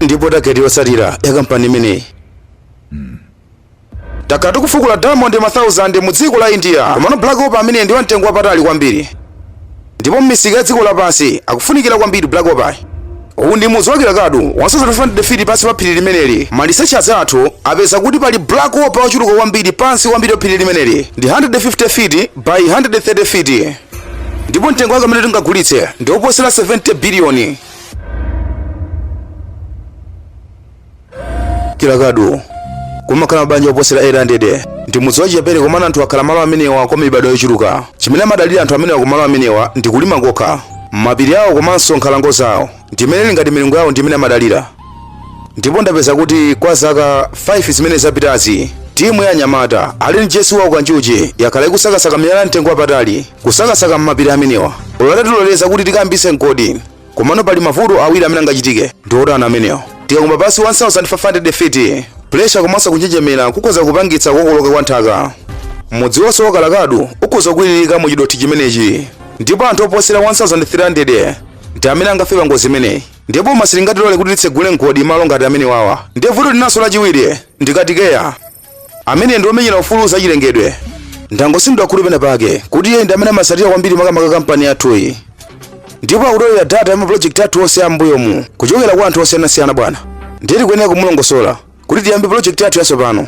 ndipo target yotsatira ya kampani imeneyi. Takhala tikufukula diamond ma 1000 mu dziko la india komano black opal amene ndi wamtengo wapatali kwambiri ndipo m'misika ya dziko lapansi akufunikira kwambiri black opal uwu ndi mudzi wa Kilakadu wasosa 500 feet pansi pa phiri limeneli ma researchers athu apeza kuti pali black opal wochuluka kwambiri pansi kwambiri pa phiri limeneli ndi 150 feet by 130 feet ndipo mtengo wake umene tingagulitse ndi woposera 70 biliyoni kilakadu kumakhala mabanja oposera 800 ndi mudzi wachichepere komano anthu akhala malo amenewa kwa mibadwo yochuluka chimene amadalira anthu amenewa kumalo amenewa ndi kulima kokha mapiri awo komanso nkhalango zawo ndi imene ili ngati milungu yawo ndi imene amadalira ndipo ndapeza kuti kwa zaka 5 zimene zapitazi timu ya anyamata ali ndi jesi wawo kanjuchi yakhala ikusakasaka miyala ya mtengo wapatali kusakasaka m'mapiri amenewa olo atatiloleza kuti tikayambitse mgodi komano pali mavuto awiri amene angachitike ndi otani amenewa tikakumba pansi 1500 feet pressure komanso kunjenjemera kukhoza kupangitsa kukokoloka kwa nthaka mudzi wonse wa Kilakadu ukhoza kukwiriririka mu chidothi chimenechi ndipo anthu oposera 1300 ndi amene angafe pangozi imeneyi ndipo boma silingatilole kuti titsegule mgodi malo ngati amenewawa ndiye vuto linanso lachiwiri ndi katikeya amene ndi omenyera ufulu zachilengedwe ndangotsinidwa khutu pena pake kuti iye ndi amene amatsatira kwambiri makamaka kampani yathuyi ndipo akutolera data ya mapulojekiti athu onse ambuyomu kuchokera kwa anthu osiyanasiyana bwana ndiye tikuyenera kumulongosola kuti tiyambe pulojekiti yathu yatsopano